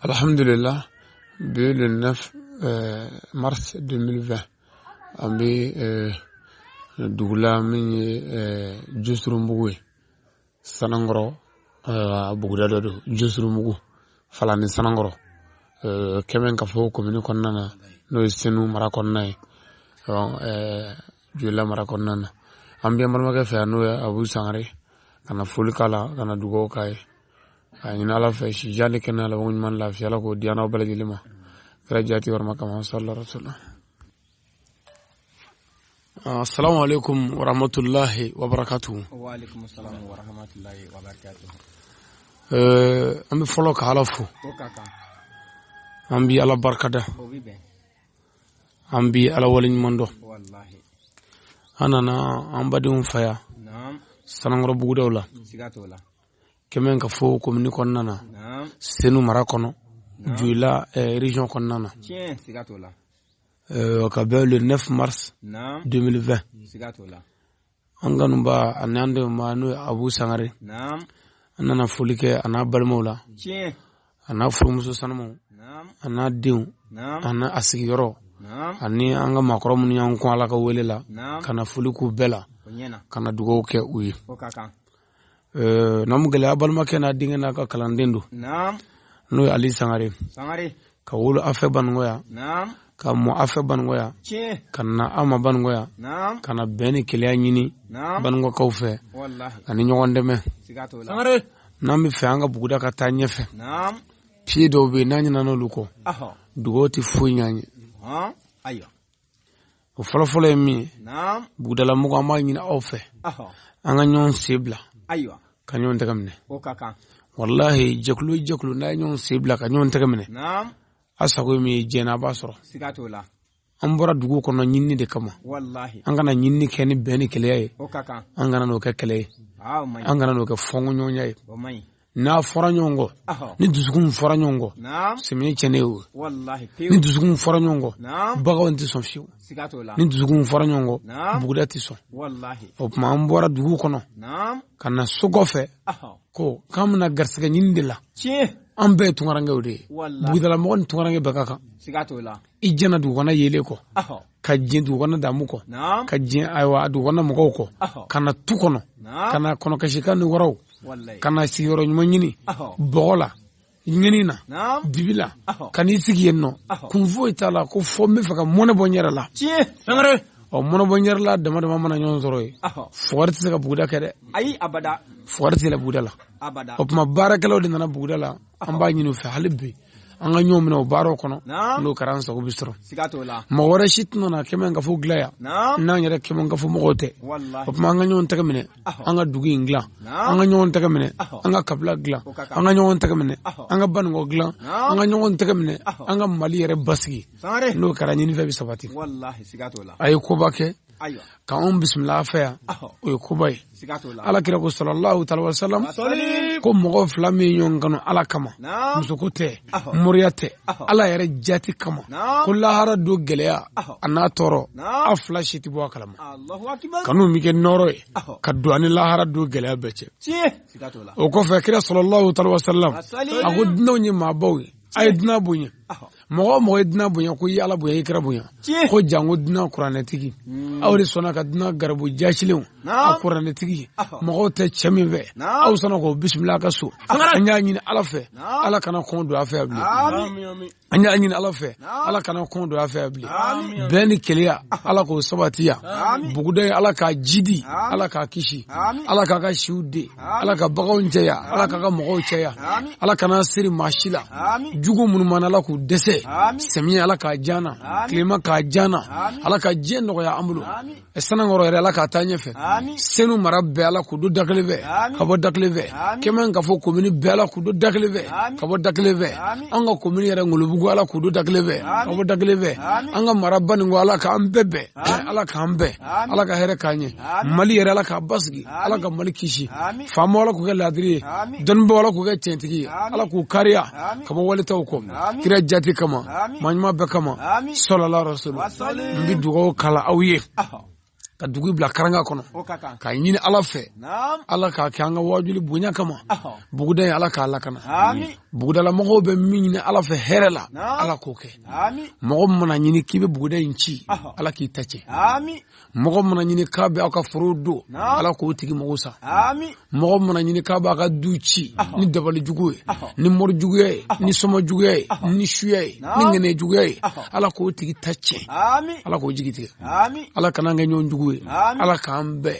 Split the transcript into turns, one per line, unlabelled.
alhamdulillah bi le 9 euh, mars 2020 an bɛ euh, dugu la min ye euh, josurunbugu ye sanankɔrɔ buguda dɔ don josurunbugu falani sanankɔrɔ kɛmɛkafo komini kɔnɔna na n'o ye senu mara kɔnɔna ye joyila mara kɔnɔna na an b'an balimakɛ fɛ yan n'o ye abu sangare ka na foli k'a la ka na dugawu k'a ye a ɲini ala fɛ si jan ni kɛnɛya laban ɲuman lafiya ala k'o di an n'aw bɛɛ lajɛlen ma kira jati yɔrɔ makama sallallahu alaihi wasallam assalamu alaikum wa rahmatullahi wa barakatuhu wa alaikum assalam
wa rahmatullahi wa
barakatuhu eh, an bɛ fɔlɔ ka ala fo an bɛ ala barikada an bɛ ala wale ɲuman dɔn
an nana
an badenw fɛ yan
sanankɔrɔ bugudaw
la
kɛmɛkafo
komini kɔnɔna na senu mara kɔnɔ joyila eh, region kɔnɔna
na eh,
ka bɛn le 9 mars 2020
an kanuba
ani an dɛmɛba n'o ye abu sangare
an nana
foli kɛ a n'a balimaw
la a n'a
furumuso sanumanw a
n'a
denw a n'a
a sigiyɔrɔ
ani
an ka maakɔrɔ
minnu y'an kɔn ala ka wele la ka na foli k'u
bɛɛ la
ka na dugawu
kɛ u
ye naamukɛla a balimakɛ n'a denkɛ n'a ka kalanden
don n'o ye
ali sangare ka wolo aw fɛ baninkɔ yan ka mɔ
aw
fɛ baninkɔ yan ka na
aw ma baninkɔ
yan ka na bɛn
ni
kelenya ɲini
baninkɔkaw
fɛ ani
ɲɔgɔn dɛmɛ n'an
bɛ fɛ an ka buguda ka taa
ɲɛfɛ piye dɔw bɛ yen
n'an ɲinɛna olu kɔ dugaw tɛ
foyi ɲ'an
ye o fɔlɔfɔlɔ ye min ye
bugudalamɔgɔ an b'a
ɲini aw fɛ an
ka ɲɔgɔn
sen bila ka
ɲɔgɔn tɛgɛ minɛ walahi jɛkulu
o jɛkulu n'a ye ɲɔgɔn sen bila ka ɲɔgɔn tɛgɛ minɛ
a sago ye min
ye diɲɛ a b'a
sɔrɔ an bɔra
dugu kɔnɔ ɲinini de kama an ka na ɲinini
kɛ ni
bɛn ni kelenya ye an kana
n'o kɛ kɛlɛ ye
an kana n'o
kɛ
fɔnkoɲɔgɔnya ye
n'a fɔra
ɲɔgɔn kɔ ni dusukun fɔra ɲɔgɔn kɔ sɛnɛ bɛ
tiɲɛ
o
ni dusukun
fɔra ɲɔgɔn kɔ baganw tɛ sɔn
fiyewu
ni dusukun
fɔra ɲɔgɔn kɔ
buguda tɛ sɔn o tuma
an
bɔra dugu kɔnɔ ka
na so
kɔfɛ ko k'an bɛna garisɛgɛ ɲini de la an bɛɛ ye tunkarankew de ye bugudalamɔgɔ ni tunkaranke bɛɛ ka kan i
jɛna dugukɔnɔ
yeelen kɔ ka diɲɛ dugukɔnɔ damu kɔ ka diɲɛ ayiwa dugukɔnɔ mɔgɔw kɔ ka na tu kɔnɔ ka na kɔnɔkasikan ni waraw ka na sigiyɔrɔ ɲuman ɲini bɔgɔ la ɲini na dibi la ka n'i sigi yen o kun foyi t'a la ko fo n bɛ fɛ ka mɔnɛ bɔ n yɛrɛ la o mɔnɛ bɔ n yɛrɛ la dama dama mana ɲɔgɔn sɔrɔ yen fugari tɛ se ka buguda kɛ dɛ ayi abada
fugari tɛ yɛlɛ buguda la
abada o tuma
baarakɛlaw de
nana buguda la an b'a ɲini u fɛ hali bi an ka ɲɔgɔn minɛ o baaraw kɔnɔ n'o kɛra an sago bɛ sɔrɔ mɔgɔ
wɛrɛ si
tɛna na kɛmɛkafo dilan yan n'an yɛrɛ kɛmɛkafo mɔgɔw tɛ o tuma an ka ɲɔgɔn tɛgɛ
minɛ
an ka dugu in dilan an ka ɲɔgɔn tɛgɛ minɛ an ka kabila dilan an ka ɲɔgɔn tɛgɛ minɛ an ka baninkɔ dilan an ka ɲɔgɔn tɛgɛ minɛ an ka mali yɛrɛ basigi n'o kɛra ɲinifɛn bɛ sabati
a ye koba kɛ k'an
bisimila a fɛ yan o ye koba ye ala kira
ko salalahu
alayihi wa salam ko mɔgɔ fila min ye ɲɔgɔn kanu ala kama musoko tɛ moriya tɛ ala yɛrɛ jati kama ko lahara don gɛlɛya a n'a tɔɔrɔ a fila si tɛ bɔ a kalama
kanu bɛ kɛ nɔɔrɔ
ye ka don a ni lahara don gɛlɛya bɛɛ cɛ o
kɔfɛ kira
salalahu alayihi wa salam a ko dunanw ye maabaw ye a ye dunan bonya mɔgɔ o mɔgɔ ye dunan bonya ko i y'ala bonya i ye kira bonya ko janko dunan kuranɛtigi hmm. aw de sɔnna ka dunan garibu jaasilenw a kuranɛtigi mɔgɔw tɛ cɛ min fɛ aw sɔnna k'o bisimila a ka so an y'a ɲini ala fɛ ala kana kɔn don a fɛ bilen an y'a ɲini ala fɛ ala kana kɔn don a fɛ bilen bɛn ni kelenya ala k'o sabati yan buguda in ala k'a jiidi ala k'a kisi ala k'a ka siw den ala ka baganw cɛya ala k'a ka mɔgɔw cɛya ala kana siri maa si la jugu minnu b'an na ala k'u dɛsɛ samiya ala k'a diya an na tilema k'a diya an na ala ka diɲɛ nɔgɔya an bolo sanankɔrɔ yɛrɛ ala k'a taa ɲɛfɛ senu mara bɛɛ ala k'u don da kelen fɛ ka bɔ da kelen fɛ kɛmɛkafo komini bɛɛ ala k'u don da kelen fɛ ka bɔ da kelen fɛ an ka komini yɛrɛ ngolobugu ala k'u don da kelen fɛ ka bɔ da kelen fɛ an ka mara baninkɔ ala k'an bɛɛ bɛn ala k'an bɛn ala ka hɛrɛ k'an ye mali yɛrɛ ala k'a basigi ala ka mali kisi faamaw ala k'u kɛ ladiri ye dɔnnibaaw ala k'u kɛ cɛntigi ye ala k'u kariya ka bɔ wali taw kɔ kira jati kama maa ɲuman bɛɛ kama salalahu alayihi wa salam n bɛ dugaw kala aw ye ka dugu bila karanga kɔnɔ k'a ɲini ala fɛ ala k'a kɛ an ka wajuli bonya kama buguda in ala k'a lakana bugudalamɔgɔw bɛ min ɲini ala fɛ hɛrɛ la ala k'o kɛ mɔgɔ mana a ɲini k'i bɛ buguda in ci ala k'i ta cɛn mɔgɔ mana a ɲini k'a bɛ aw ka foro don ala k'o tigi mago sa mɔgɔ mana a ɲini k'a b'a ka du ci ni dabali jugu ye ni mori juguya ye ni soma juguya ye ni suya ye ni ŋaniya juguya ye ala k'o tigi ta cɛn ala k'o jigi tigɛ ala kana an kɛ ɲɔgɔn jugu ye ala k'an bɛɛ